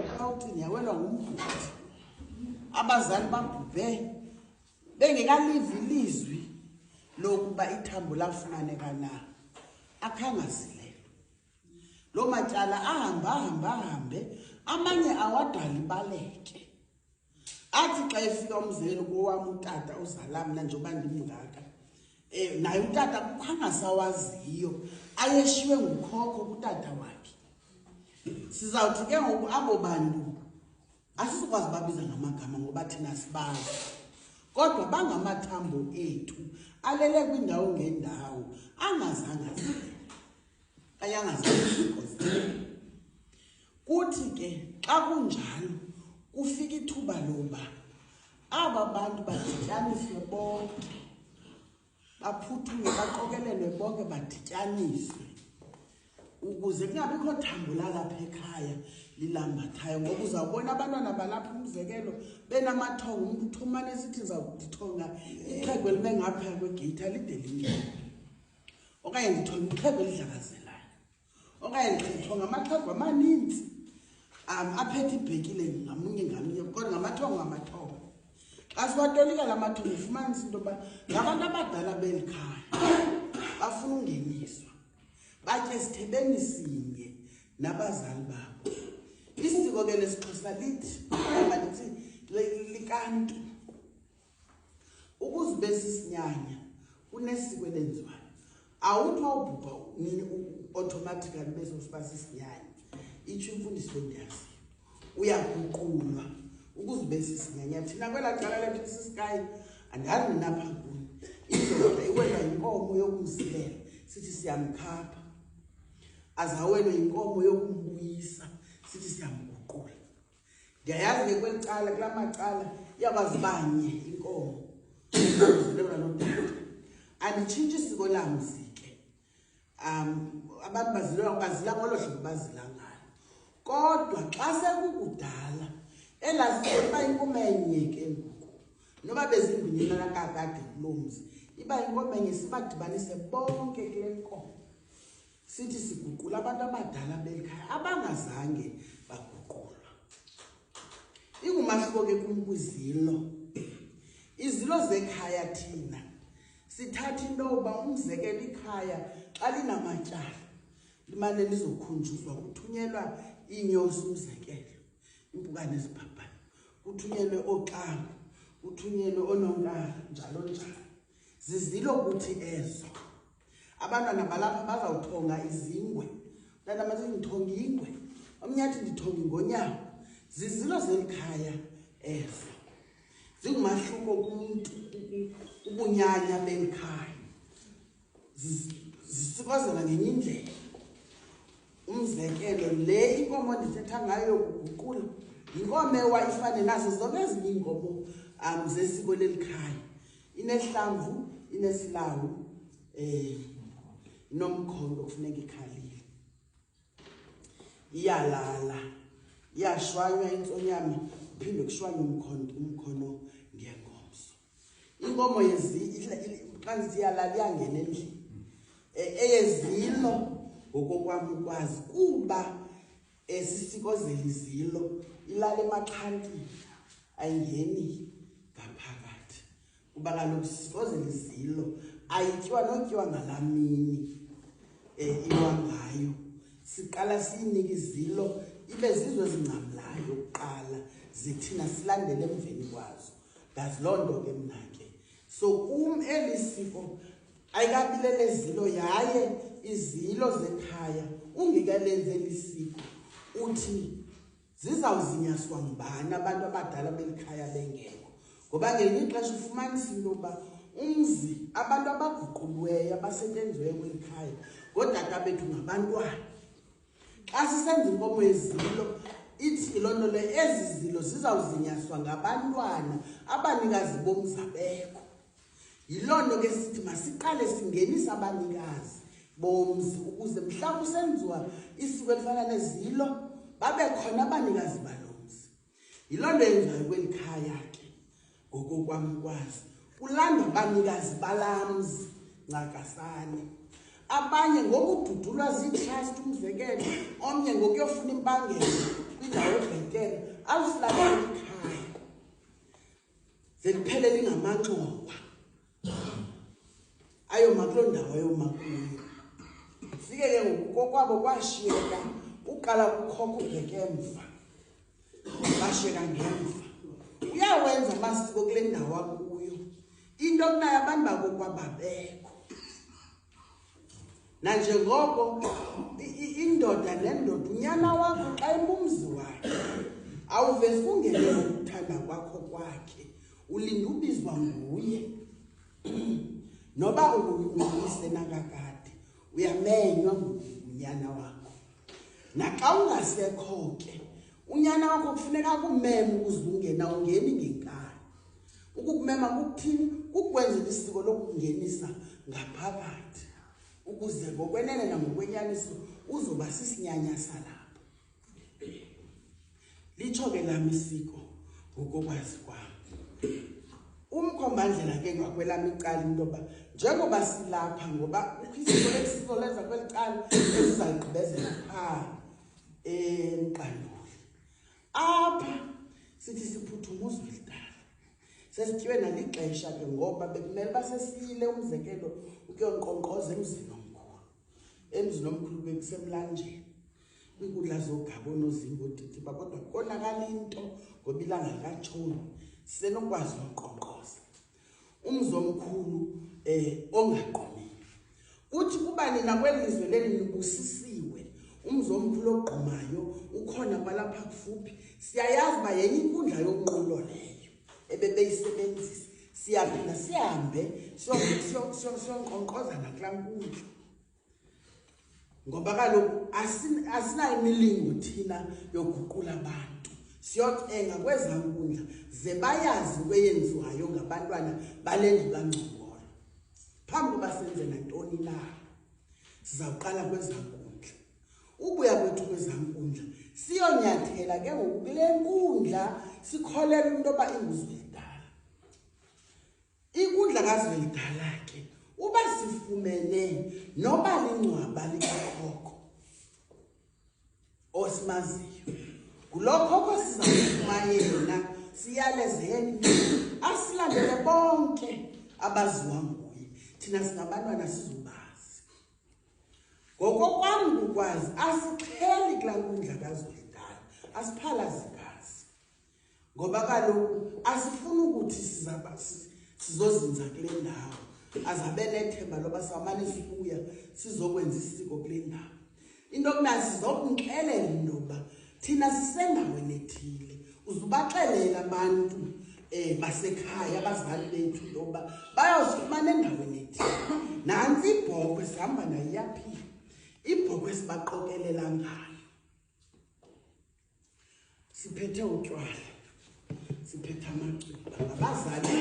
ekawucini yawelwa ngumbhuti abazali babhubhe bengekalivi ilizwi lokuba ithambo lafumaneka na akhangazileyo loo matyala ahambe ahambe ahambe amanye awadala ibaleke athi xa efika umzekelo kowam utata uzala mna njengoba ndimngaka um naye utata kukho angasawaziyo ayeshiywe ngukhokho kutata wakhe sizawuthi ke ngoku abo bantu asizokwazi babiza ngamagama ngoba thina sibazi kodwa bangamathambo ethu alele kwindawo ngendawo angazange azile kanye angazange kuthi ke xa kunjalo kufika ithuba loba aba bantu badityaniswe bonke baphuthume baqokelelwe bonke badityaniswe ukuze kungabikho thambo lalapha ekhaya lilambathayo ngoba uzawubona abantwana balapha umzekelo benamathongo umntu uthumane esithi ndizawudithonga ixhego elibe ngaphaya kwegeyithi alide linjani okanye ndithonga ixhego elidlakazela okanye ndithonga ngamathongo amaninzi um aphethe ibhekile ngamunye ngamunye kodwa ngamathongo ngamathongo xa siwatolika la mathongo ufumanisa into yoba ngabantu abadala beli khaya bafuna ungeniswa batye sithebeni sinye nabazali babo isiko ke lesixhosa lithi lithi likantu ukuze ube sisinyanya kunesiko elenziwayo awuthi wawubhubha nini automatically ube sokuba sisinyanya itsho imfundiso endiyaziyo uyaguqulwa ukuze ube sisinyanya thina kwelaa cala lethu sisikayo andazi ninapha kuni indoda iwela yinkomo yokumzilela sithi siyamkhapha azawelwe yinkomo yokumbuyisa sithi siyamguqula ndiyayazi ke kweli cala kula macala iyakwazi banye inkomo lona lodala anditshintshi isiko lamzi ke um abantu bazilwa bazila ngolo hlobo bazila ngalo kodwa xa sekukudala elaziseba inkomo enye ke ngoku noba bezimbinyenana kakade kuloo mzi iba inkomo enye sibadibanise bonke kule nkomo sithi siguqula abantu abadala beli khaya abangazange baguqulwa ingumahluko ke kum kwizilo izilo zekhaya thina sithatha into yoba umzekelo ikhaya xa linamatyala limane lizokhunjuzwa kuthunyelwa iinyosi umzekelo impukane ezibhabhane kuthunyelwe ooxanga kuthunyelwe oononkara njalo njalo zizilo kuthi ezo abantwana balapha bazawuthonga izingwe mntana mathi ndithonga ingwe omnye athi ndithonga ingonyawo zizilo zeli khaya ezo zingumahluko kumntu ubunyanya beli khaya zisikozela ngenye indlela umzekelo le inkomo ndithetha ngayo yokuguqula yinkomo ewa ifane nazo zonke ezinye iinkomo um zesiko leli khaya inehlamvu inesilawu eh nomkhondo kufuneka ikhalile iyalala iyashwanywa intsonyama phinde kushwanywe umkhondo umkhono ngengomso inkomo yezi qanzi iyalala iyangena endlini e, eyezilo ngokokwami ukwazi kuba esisikozelizilo ilale emaxhantini ayingeni ngaphakathi kuba kaloku sisikozelizilo ayityiwa notyiwa ngalaa mini um iwa ngayo siqala siyinike izilo ibe zizo ezingcamlayo kuqala zithina silandele emveni kwazo ndazi loo nto ke mna ke so kum eli siko ayikabilelezilo yaye izilo zekhaya ungekalenzi eli siko uthi zizawuzinyaswa ngubani abantu abadala beli khaya bengekho ngoba ngelinye ixesha ufumanisa into yokuba umzi abantu abaguqulweyo abasebenziweyo kweli khaya ngoodata bethu ngabantwana xa sisenza inkomo yezilo ithi loo nto le ezi zilo zizawuzinyaswa ngabantwana abanikazi bomzabekho yiloo nto ke sithi masiqale singenise abanikazi bomzi ukuze mhlawumbi usenziwa isiko elifana nezilo babe khona abanikazi balo yiloo nto yenzayo kweli khaya ke ngokokwamkwazi kulanda abanikazi balamzi ncakasane abanye ngokududulwa ziitrust umzekelo omnye ngokuyofuna impangelo kwindawo ebhetele azihlabela ikhaya zeliphele lingamanxowa ayoma kuloo ndawo ayoma kuyo fike ke ngoku kokwabo kwashiyeka uqala kukhokha ubheke emva bashiyeka ngemva uyawenza amasiko kule ndawo akuyo into okunayo abantu bakokwababekho nanjengoko indoda nendoda unyana wakho xa imumzi wakhe awuvesi ungene ngokuthanda kwakho kwakhe ulinda ubizwa nguye noba uyise nakakade uyamenywa ngunyana wakho naxa ungasekho ke unyana wakho kufuneka kumeme ukuze ungena ungeni ngenkani ukukumema kukuthini kukwenzela isiko lokungenisa ngaphakathi ukuze ngokwenene nangokwenyaniso uzoba sisinyanya salapho litsho ke lam isiko ngokokwazi kwam umkhombandlela ke ngakwelam icala into yoba njengoba silapha ngoba ukhisiko lesiko lenza kweli cala ezizayigqibezela phaa emqanduli apha sithi siphuthuma uzwelidala sesityiwe nalixesha ke ngoba bekumele uba sesiyile umzekelo ukuyonkqonkqoza emzini omkhulu emzini omkhulu bekusemlanjeni kwiinkundla zogaba onozinga odidi uba kodwa konakala into ngoba ilanga likatshoni sisenokwazi unkqonkqoza umzi omkhulu um ongagqumile kuthi kuba nina kwelizwe leli nibusisiwe umzi omkhulu ogqumayo ukhona kwalapha kufuphi siyayazi uba yenye inkundla yonqulo leyo ebebeyisebenzisa siyaphinda sihambe siyonkqonkqoza nakulaa nkundla ngoba kaloku asinayo imilingo thina yoguqula abantu siyocenga kweza nkundla ze bayazi into eyenziwayo ngabantwana bale ndlu kangcongolo phambi koba senze nantoni na sizawuqala kweza nkundla ubuya kwethu kweza nkundla siyonyathela ke ngoku kule nkundla sikholelwa into yoba inguzwe Ikundla kaZwelidala ke uba sifumene noba lingcwaba likakhokho osimaziyo ngulo khokho sizakufuma yena siyalezeni asilandele bonke abaziwa nguye thina singabantwana sizubazi ngokokwam kukwazi asixheli kulaa nkundla kazwelidala asiphalazi ngoba kaloku asifuni ukuthi sizozinza kule ndawo azabe nethemba loba samane sibuya sizokwenza isiko kule ndawo into okuna sizokunxelela into yokuba thina sisendawo enethile uzubaxelela abantu um eh, basekhaya abazali bethu into yokuba bayozifumana endaweni ethile nantsi ibhokhwe sihamba nayo iyaphila ibhokhwe sibaqokelela ngayo siphethe utywala siphethe amacuba ngabazali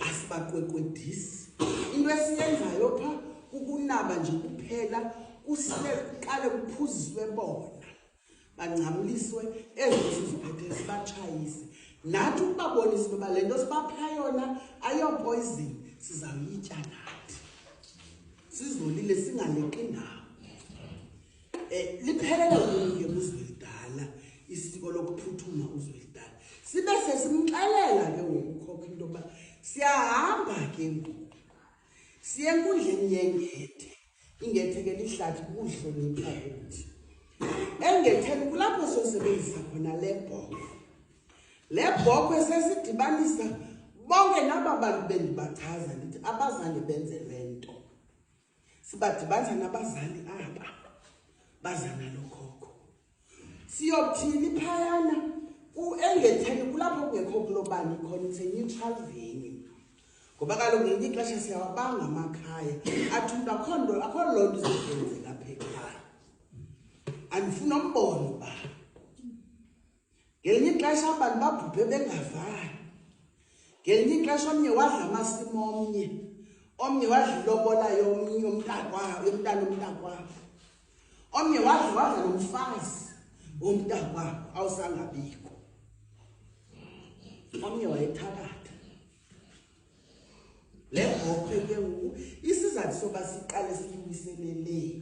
asibaqwekwedisi into esiyenzayo pha kukunaba nje kuphela kusile kuqale kuphuziswe bona bangcamliswe ezo siziphethe sibatshayise nathi ukubabonisa uba le nto sibapha yona ayopoyizini sizawuyitya nathi sizolile singaleqi ndawo Eh liphelela kuye uzwelidala isiko lokuphuthuma uzwelidala. Sibe sesimxelela ke ngokukhokha into yokuba siyahamba ke ngoku. Siye enkundleni yengethe. Ingethe ke lihlathi kuhlonipha kuthi. Engetheni kulapho sosebenzisa khona le bhoko. Le bhoko esesidibanisa bonke naba bantu bendibachaza ndithi abazange benze le nto. sibadibanisa nabazali aba baza nalo khokho siyothini phayana engetheni kulapho kungekho kulobani khona it's a neutral venue ngoba kaloku ngenye ixesha siyawabanga amakhaya athi umntu akho nto akho loo nto izokwenze lapha ekhaya andifuna umbono uba ngelinye ixesha abantu babhubhe bengavani ngelinye ixesha omnye wadla amasimo omnye omnye wadla ilobola yomnye yomntakwabo yomntana omntakwabo omnye wadla wadla nomfazi womntakwabo awusangabikho omnye wayethakatha le bhokwe ke ngoku isizathu soba siqale siyiwiseleleyo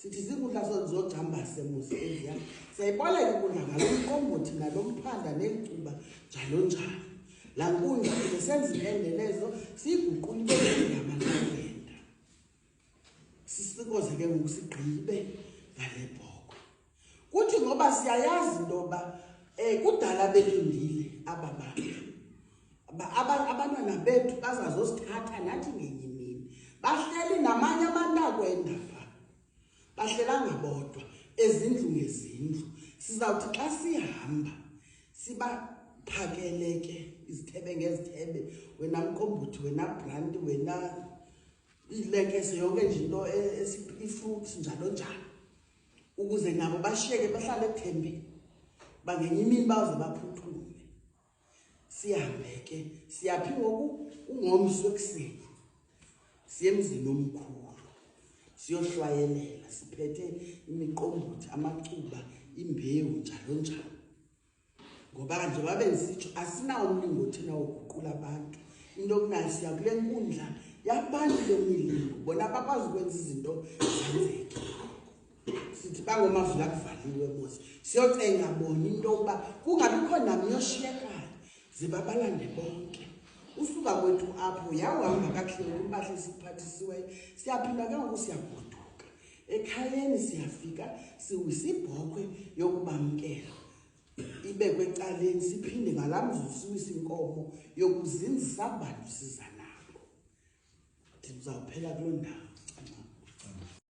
sithi zikudla zozogcambase muzi endlu yam siyayiboleka ukudla ngalo mqombothi nalo mphanda neencuba njalo njalo laa nkundla kuze senza iendelezo siyiguqula ibegama levenda sisikoze ke ngoku sigqibe ngale bhokwe kuthi ngoba siyayazi into yoba um kudala belindile aba bantu abantwana bethu bazazosithatha nathi ngenye imini bahleli namanye amantako endava bahlelanga bodwa ezindlu ngezindlu sizawuthi xa sihamba sibaphakele ke izithebe ngezithebe wena mqombuthi wena branti wena ilekese yonke nje into e-, ifruits njalo njalo ukuze nabo bashiyeke bahlale ethembile bangenye imini baze baphuthume sihambe ke siyaphi ngoku ungomso ekuseni siye emzini omkhulu siyohlwayelela siphethe imiqombothi amacuba imbewu njalo njalo ngoba njengoba bendisitsho asinawo umlingo thina woguqula abantu into okunayo siya kule nkundla yabantu le milingo bona bakwazi ukwenza izinto zenzeke sithi bangomavula kuvaliwe mos siyocenga bona into yokuba kungabikho nam yoshiyekayo ze babalande bonke usuka kwethu apho yawuhamba kakuhle umpahla esiphathisiweyo siyaphila ke ngoku siyagoduka ekhayeni siyafika siwisa ibhokhwe yokubamkela ibekwe ecaleni siphinde ngalaa mzuzu siwisa inkomo yokuzinzisa abantu siza nabo ndizawuphela kuloo ndawo